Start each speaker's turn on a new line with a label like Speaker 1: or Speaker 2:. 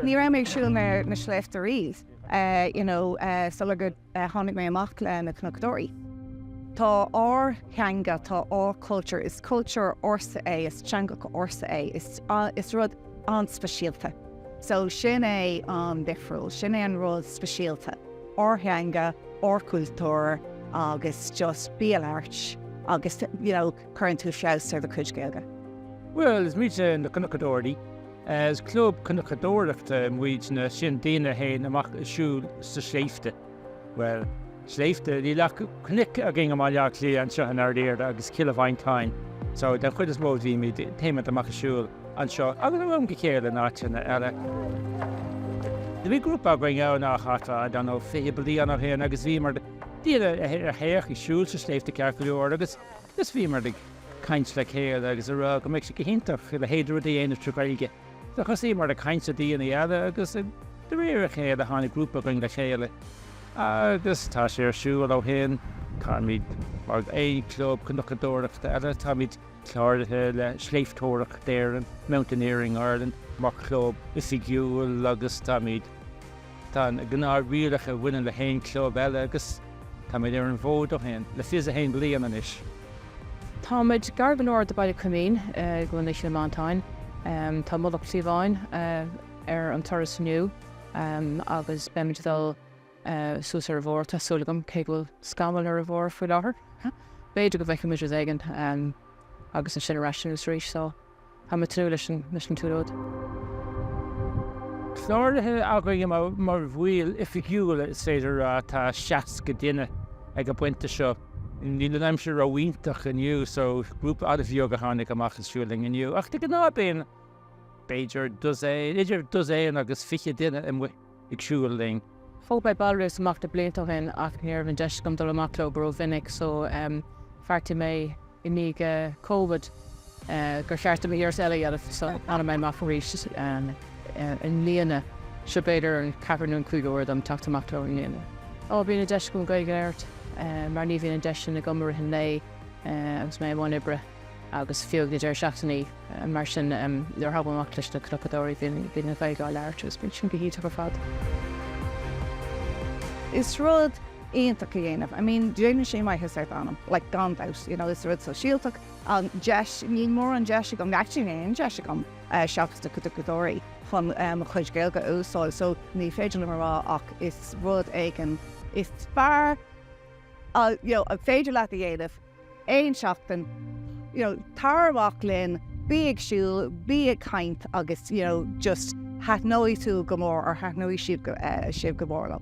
Speaker 1: Ní raibh mé ag siúl na sléibhte riamh you know sular tháinig mé amach le Na Cnocadóirí. Tá ár theanga, tá ár culture, is cultúr ársa é, is teanga ársa é, is rud an-speisialta. So sin é an difriúil, sin é an rud speisialta, ár theanga, ár gcultúr agus just bí alert agus you know. cuireann tú feabhas ar do cuid Gaeilge? Bhuel,
Speaker 2: is muide na Cnocadóirí. Is club cnocadóireachta muidne, sin daoine a théann amach ag siúl sna sléibhte. Bhuel, sléibhte, níl ach cnoic againn i mBaile Átha Cliath, anseo in oirthear agus Cill Mhantáin. So, den chuid is mó bhímid, téimid amach ag siúl anseo agus ó am go chéile in áiteanna eile. Bhí grúpa againn a bhí ag casadh, I don't know, fiche bliain ó shin agus bhíomar, daoine a théadh ag siúl sna sléibhte ceart go leor agus, Is bhíomar ag caint le chéile agus a rá go mbeadh sé go hiontach a leithéid de rud a dhéanamh trí Ghaeilge. So thosaíomar ag caint le daoine eile agus de réir a chéile tháinig grúpa againn le chéile agus tá sé ar siúl ó shin. Táimid mar aon club cnocadóireachta eile, táimid cláraithe le Sléibhteoireacht Éireann, Mountaineering Ireland, mar chlub oifigiúil agus táimid. Tá na gnáthrialacha a bhaineann le haon club eile agus táimid ar an bhfód ó shin, le fiche a haon bliain anois. Táimid
Speaker 3: gar go leor do Bhaile Coimín i gContae Chill Mhantáin. Tá Mullach Cliabháin ar an turas inniu agus beimid ag dul suas ar a bharr, tá súil agam, cé go bhfuil scamall ar a bharr faoi láthair. B'fhéidir go bhfeicfimid rud éigin agus ansin ar ais anuas arís. Tá mé ag tnúth leis an tsiúlóid.
Speaker 2: Cláraithe againn mar bhaill oifigiúla, is féidir a rá, tá 60 duine ag an bpointe seo. Níl an aimsir ró-iontach inniu so grúpa an-bheag a tháinig amach ag siúl linn inniu ach de gnáth bíonn b'fhéidir dosaen, idir dosaen agus fiche duine amuigh. ag siúl linn. Thóg mé
Speaker 3: ballraíocht amach na blianta ó shin ach ní raibh an deis agam dul amach leo go rómhinic so bheartaigh mé i ndiaidh Covid gur cheart dom iarracht eile a dhéanamh so tháinig mé amach arís i mbliana. Seo b'fhéidir an ceathrú nó an cúigiú uair dom teacht amach leo i mbliana. Ó bíonn an deis agam Gaeilge a labhairt mar ní bhíonn an deis sin agam i rith an lae agus mé i mbun oibre. agus fiú ag na deireadh seachtainí mar sin nuair a thagaim amach leis na Cnocadóirí bíonn an Ghaeilge á labhairt agus bíonn sin go hiontach ar
Speaker 1: fad. Is rud iontach a dhéanamh, I mean déanann sé maitheas ar d'anam like gan dabht you know is rud sóisialta an deis, níl mórán deis agam actually níl aon deis agam seachas na Cnocadóirí chun mo chuid Gaeilge a úsáid so ní féidir liom a rá ach is rud éigin is fearr you know an féidir leat a dhéanamh. aon seachtain. You know, tar amach linn, bí ag siúl, bí ag caint agus, you know, just thaitneoidh tú go mór or thaitneoidh siad, eh, sibh go mór leo.